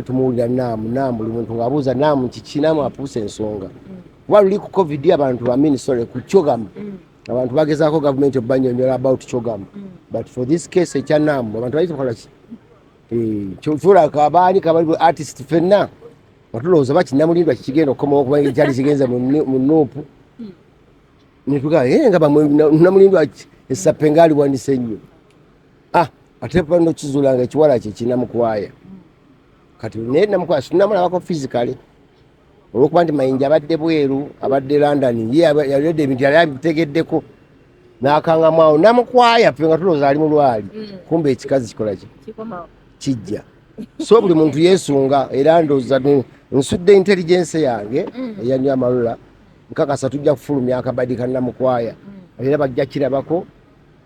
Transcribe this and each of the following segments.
tumuwulira naamu naamu buli muntu ng'abuuza naamu kiki naamu apuusa ensonga kuba luli ku covid abantu bamini sole ku kyogamu mm. abantu bagezaako gavumenti obanyonyola about kyogamu mm. but for this case ekya naamu abantu baitokolaki eh, kyotula kabaani kabali artist fenna watulowooza bakinamulindwa kikigenda okukomawo okuba ekyali kigenza mu nuupu mm. netugaa eh, nga namulindwa esape ngaaliwanise nnyo ah ate pa no kizula nga kiwala kye kina mukwaya kati ne na mukwaya sina mala wako physically olukuba nti mayinja abadde bweru abadde london ye yalede ebintu yali abitegeddeko nakanga mwawo namukwaya fe nga tuloza ali mulwali mm. kumbe ekikazi kikola ki kijja so buli muntu yesunga era ndoza nsudde intelligence yange mm. eyanywa amalula nkakasa tujja kufulumya akabadi kanamukwaya mm. era bajja kirabako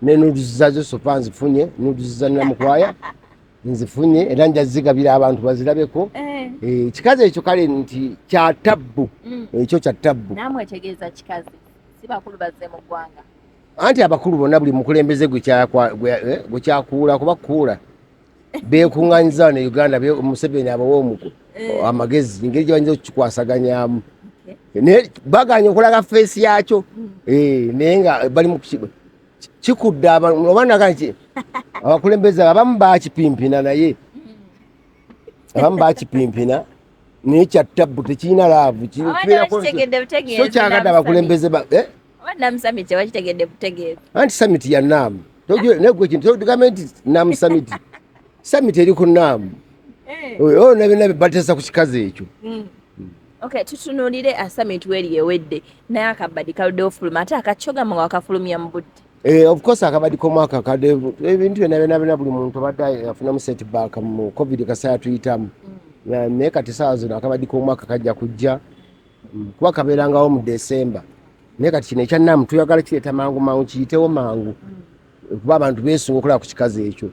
ne nuduzi zazo sofa nzifunye nuduzi za namukwaya nzifunye era nja zigabira abantu bazirabeko eh. Eh, ekikazi ekyo kale nti kya tabbu mm. ekyo kya tabbu anti abakulu bonna buli mukulembeze gwekyakuula eh, kuba kuula bekunganyiza wano e uganda museveni abawa omuko eh. amagezi engeri gyebayinza okukikwasaganyamu naye baganya okulaga feesi yakyo hmm. eh, naye nga bali mukukiba kikudde oba naga nti abakulembeze abamu bakipimpina naye hmm. abamu bakipimpina naye kyattabu tekirina laavu kyokyagada abakulembeze eh? Oba Nam Summit tewakitegedde butegeevu. Anti summit ya Nam. Negwe kintu tugamba nti Nam Summit. Summit eri ku Nam. Eh. Oyo oh, nabe nabe batesa ku kikazi ekyo. Mm. Okay, tutunulire a summit weri ewedde naye akabadi kaludde ofuluma ate akakyoga mwa wakafulumya mu budde. Eh, of course akabadi komwaka kade ebintu byona byona byona buli muntu abadde afunamu set back mu covid kasaya tuyitamu. Mm. Naye kati saawa zino akabadi komwaka kajja kujja. kuba kabeerangawo mu desemba naye kati kino ekyannamu tuyagala kireeta mangu mangu kiyitewo mangu kuba abantu beesunga okulaba ku kikazi ekyo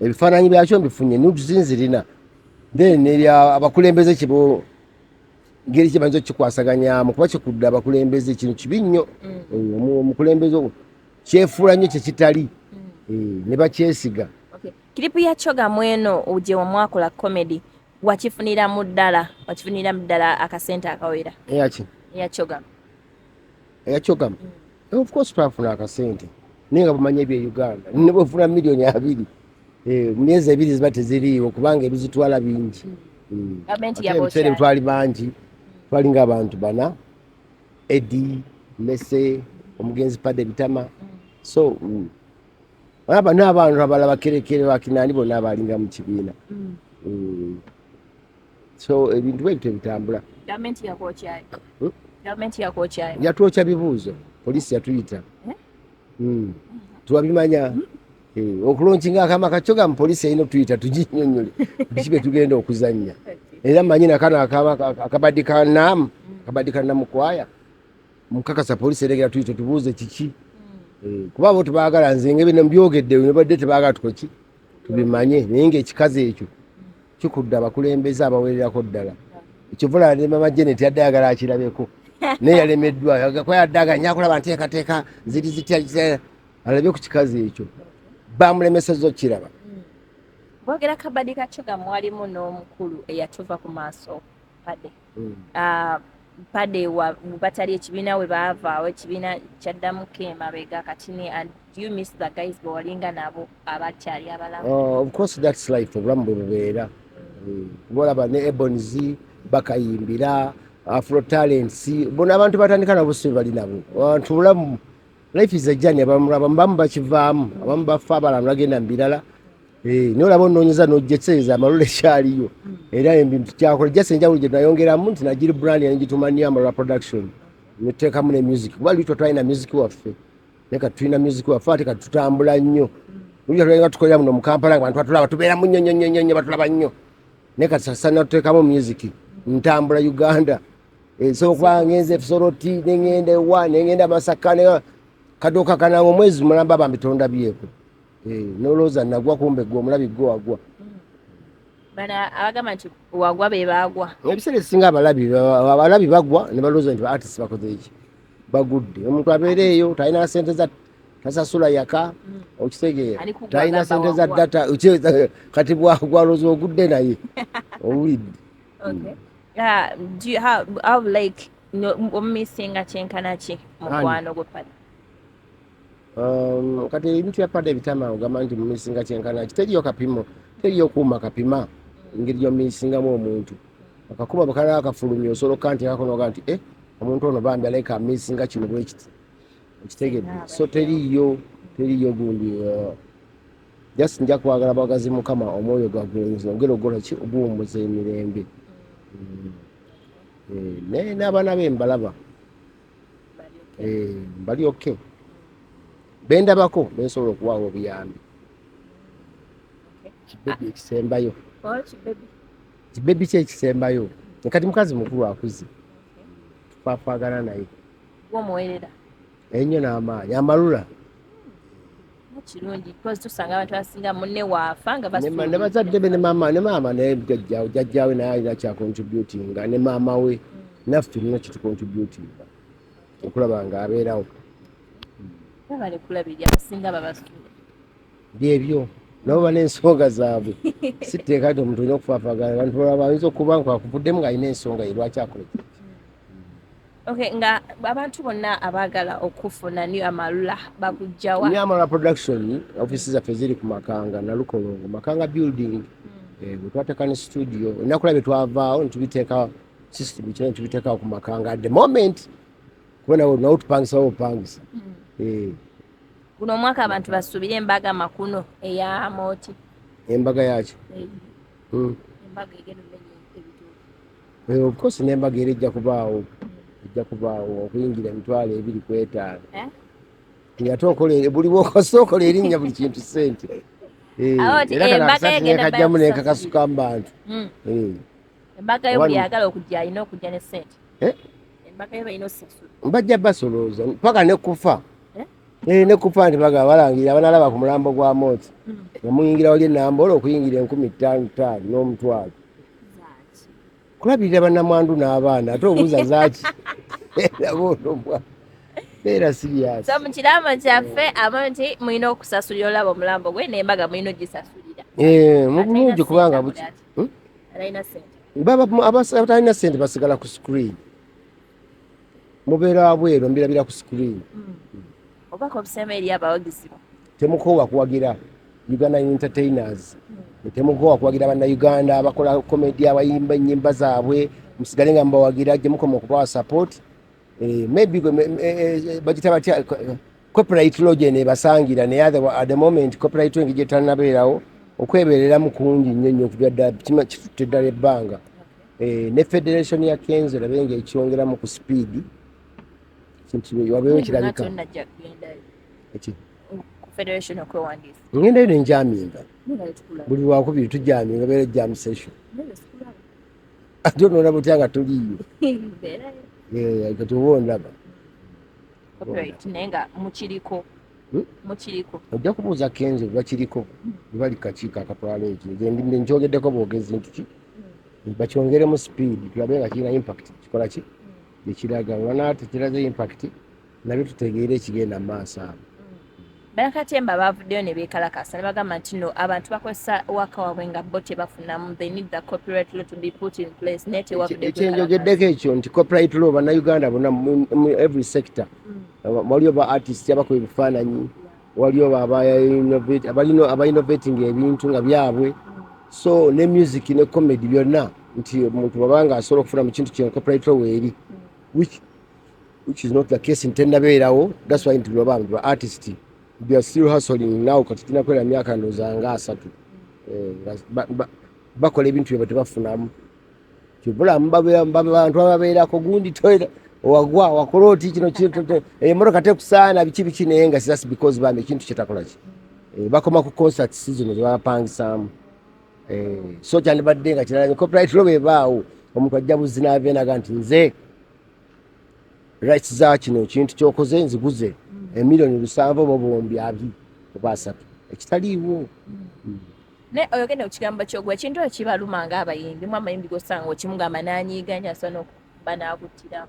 ebifaananyi byakyo mbifunye nuzinzirina then nerya abakulembeze kibo ngeri kyebayinza okukikwasaganyamu kuba kikudde abakulembeze kino kibi nnyo mm. eh, omukulembeze kyefuula nnyo kyekitali mm. eh, ne bakyesiga kiripu ya kyogamu eno uje wamwakola comedy wakifunira mu ddala wakifunira mu ddala akasente akawera eyaki eyakyogama eyakyogama mm. eh, of course twafuna akasente naye nga bamanya ebye uganda ne bwefuna miliyoni abiri eh, mu myezi ebiri ziba teziriiwo kubanga ebizitwala bingi mm. ebiseera mm. twali bangi twali nga abantu bana edi mese omugenzi pade bitama so olaba n'abantu abala bakerekere bakinani bona abalinga mu kibiina mm. Mm. so ebintu bwebito ebitambula yatwokya bibuuzo polisi yatuyita eh? mm. twabimanya eh, okulonkinga akama kakyo gamu polisi erina otuyita tuginyonyole biki betugenda okuzannya era manyi nakano akabadde kanamu akabadde kanamukwaya mukakasa police eregera tuli tetubuuze kiki hmm. eh, kuba abo tebagala nze nga bino mbyogedde nebadde tebagala tukoki tubimanye naye nga ekikazi ekyo kikudde abakulembeze abawererako ddala ekivula ne mama janet yadde ayagala akirabeko naye yalemeddwa kwa yadde aganya akulaba nteekateeka ziri zitya alabe ku kikazi ekyo bamulemeseza okukiraba hmm. bogera kabadi kakyo gamwalimu n'omukulu eyatuva ku maaso pade mm. uh, mpade batali ekibiina we baavaawo ekibiina kyaddamu ke emabega kati ne and you miss the guys bewalinga nabo abakyali abalamu oh, of course that's life obulamu bwe bubeera mm. kuba olaba ne ebons bakayimbira afro talents bona abantu batandika nabo si bali nabo abantu bulamu life is a journey abamu abamu bamu bakivaamu abamu bafa abala nagenda mbirala eh no labo nonyeza no jetseza malule shali yo era embi mtikyako just enja uje nayongera mu nti najiri brand ya nji tumania mara production niteka mune music wali wito twaina music wa fe neka twina music wa fati katutambula nyo uja twaina tukoya muno mkampala abantu atula batubera munyo nyo nyo nyo batula banyo neka sasa nateka mu music ntambula uganda ensooka ngenze efisoroti nengenda ewa nengenda masaka kadoka kanange omwezi mulamba bambi tondabyeko eh, nolowooza nagwa kumbe gwe omulabi gwe wagwa abagamba nti wagwa bebagwa ebiseera esinga abalabi abalabi bagwa nebalowooza nti baartis bakoze eki bagudde omuntu abeereeyo talina sente za tasasula yaka mm. okitegeera talina sente za data kati bwagwaloza ogudde naye owulidde okay uh, do you have, have like no, omumisinga kyenkana ki mukwano gwe pada um, kati ebintu bya pada ebitama ogamba nti mumisinga kyenkana ki teriyo kapimo teriyo kuuma kapima engeri gyomisingamu omuntu akakuba bakala akafulumya osobola okukantekakonoga nti e omuntu ono bambi alaika amisinga kino bwekiti okitegedde so teriyo teriyo gundi uh, just nja kwagala bwagazi mukama omwoyo gwagulenzi ogera ogola ki oguwumbuza emirembe mm. eh, naye n'abaana be mbalaba mbali eh, oke bendabako bensobola okuwaawo obuyambi kibebi ekisembayo kibebi ki ekisembayo kati mukazi mukulu akuze twakwagala naye ennyo n'amaanyi amalula kirungi because tusanga abantu abasinga munne waafa nga ne bazadde be ne maama ne maama naye jajjawe jajjawe naye alina kyakontributinga ne maama we naffe tulina kitukontributinga okulaba nga abeerawo babale kulabirira abasinga babasula byebyo nabo bana ensonga zaabwe sitteeka nti omuntu olina okufaafagana abantu balaba bayinza okuba nkakuvuddemu ng'alina ensonga ye lwaki akoleki Okay, nga abantu bonna abaagala okufuna new amalula bakujjawa new amalula production office zaffe ziri ku makanga nalukolongo makanga building mm. eh, bwetwateka ne studio enakula byetwavaawo netubiteeka system kina netubiteekawo ku makanga at the moment kuba nawe nawe tupangisa wa opangisa mm. eh. guno omwaka abantu basuubire embaga makuno eya mooti embaga yaki eh. mm. embaga egenda Eh, of course nembaga era ejja kubaawo ejja kubaawo okuyingira emitwalo ebiri ku etaano eh? ate okola buli bwokosa okola erinnya buli kintu sente eh, era kano akasati nekajjamu nekakasuka mu bantu hmm. embaga yo buli yagala okujja alina okujja ne sente embaga yo balina osasulwa bajja basolooza paka nekufa Eh, ne kupande baga balangira banalaba ku mulambo gwa moti nga muyingira wali enambola okuyingira enkumi ttaano ttaano n'omutwalo kulabirira banamwandu n'abaana ate obuuza zaki nabonomwa beera sirias so mu kirambo kyaffe aba nti mulina okusasulira olaba omulambo gwe nembaga mulina ogisasulira eh, mu bulungi kubanga buki hmm? abatalina sente basigala ku screen mubeera abweru mbirabira ku screen hmm. obubaka obusema eri abawagizi temukoowa kuwagira uganda entertainers hmm. temukoowa kuwagira bannayuganda abakola komedi abayimba ennyimba zaabwe musigale nga mubawagira gye mukoma okubawa support eh, maybe eh, eh, bagita batya copyright law gye nebasangira naye at the moment copyright engi gyetanabeerawo okwebereramu kungi nnyo nnyo okujadda kitutte ddala ebbanga eh, ne federation ya kenzo labe nga ekyongeramu ku speed wabewo kirabika federation okwewandiisa ngenda eno enjaminga buli lwakubiri tujaminga beera jam session ate onoona butya nga tuliyo kati oba ondaba ojja kubuuza kenzo bakiriko bali kakiiko akatwala ekyo nkyogedeko bwogezi nti kiki bakyongeremu speed tulabe nga kirina impact kikola ki ekiraga olana tekiraze impact nabyo tutegeere ekigenda mu maaso abo banakatemba bavuddeyo ne beekalakasa ne bagamba nti no abantu bakozesa waka waabwe nga bo tebafunamu they need the copyright law to be put in place naye tewakyenjogeddeko ekyo nti copyright law bannayuganda bona mu every sector mm. waliyo ba artist abakuba ebifaananyi waliyo abainovatinga ebintu nga byabwe so ne music ne comedy byonna nti omuntu wabanga asobola okufuna mu kintu kyenkopulaito weeri which is not the case ntenabeerawo thats why nti lwaba ba artist theyare still hustling now kati tinakwera myaka ndooza nga asatu eh, bakola ebintu byabwe tebafunamu kibulamu bantu ababeerako gundi toyina wagwa wakola oti kino emotoka eh, tekusaana biki biki naye nga sas because bambi ekintu kyetakolaki eh, bakoma ku concert season zebapangisaamu eh, so kyandibadde nga kirala copyright lo bebaawo omuntu ajja buzzi navenaga nti nze rights za kino ekintu kyokoze nziguze mm. emiliyoni lusanvu oba obuwumbi abi oba asatu ekitaliiwo mm. naye oyogende kukigambo kyogwa ekintu ekyo kibaluma nga abayimbi mu amayimbi gosanga okimugamba nanyiiga nyo asobola nokuba nakutira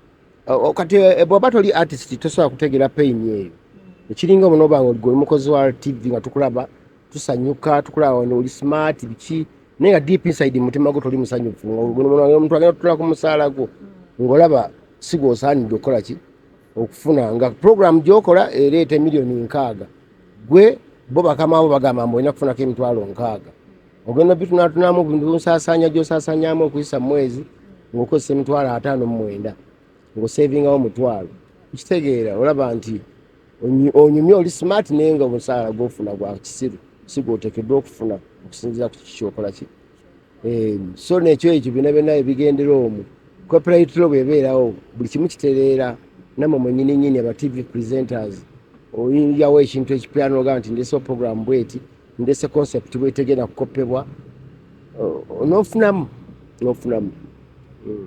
kati eh, eh, bwaba toli artist tosobola kutegeera pain eyo hmm. ekiringa omu nobanga oligwe oli mukozi wa tv nga tukulaba tusanyuka tukulaba wano oli smart biki naye nga deep inside mutima gwo toli musanyufu omuntu agenda tutula ku musaala gwo hmm. ng'olaba sigwosaanidde okukola ki okufuna nga pulogulaamu gyokola ereeta emiliyoni nkaaga gwe bo bakamaabo bagamba mbu olina kufunako emitwalo nkaaga ogenda bitunatunamu nsaasanya gyosaasanyamu okuyisa mumwezi ngaokozesa emitwalo ataano mumwenda ngaosevingawo mutwalo kitegeera olaba nti onyumye oli smart naye nga omusaala gwofuna gwa kisiru sigwotekeddwa okufuna okusinzira ku kiki kyokola kiri Ehm, so nekyo ekyo byona byona ebigendera omu copyrightle bwebeerawo buli kimu kitereera namwe mwenyini nyini aba tv presenters oyinjawo ekintu ekipya noga nti ndese program bweti ndese concept bwetegenda kukopebwa nofunamu nofunamu mm.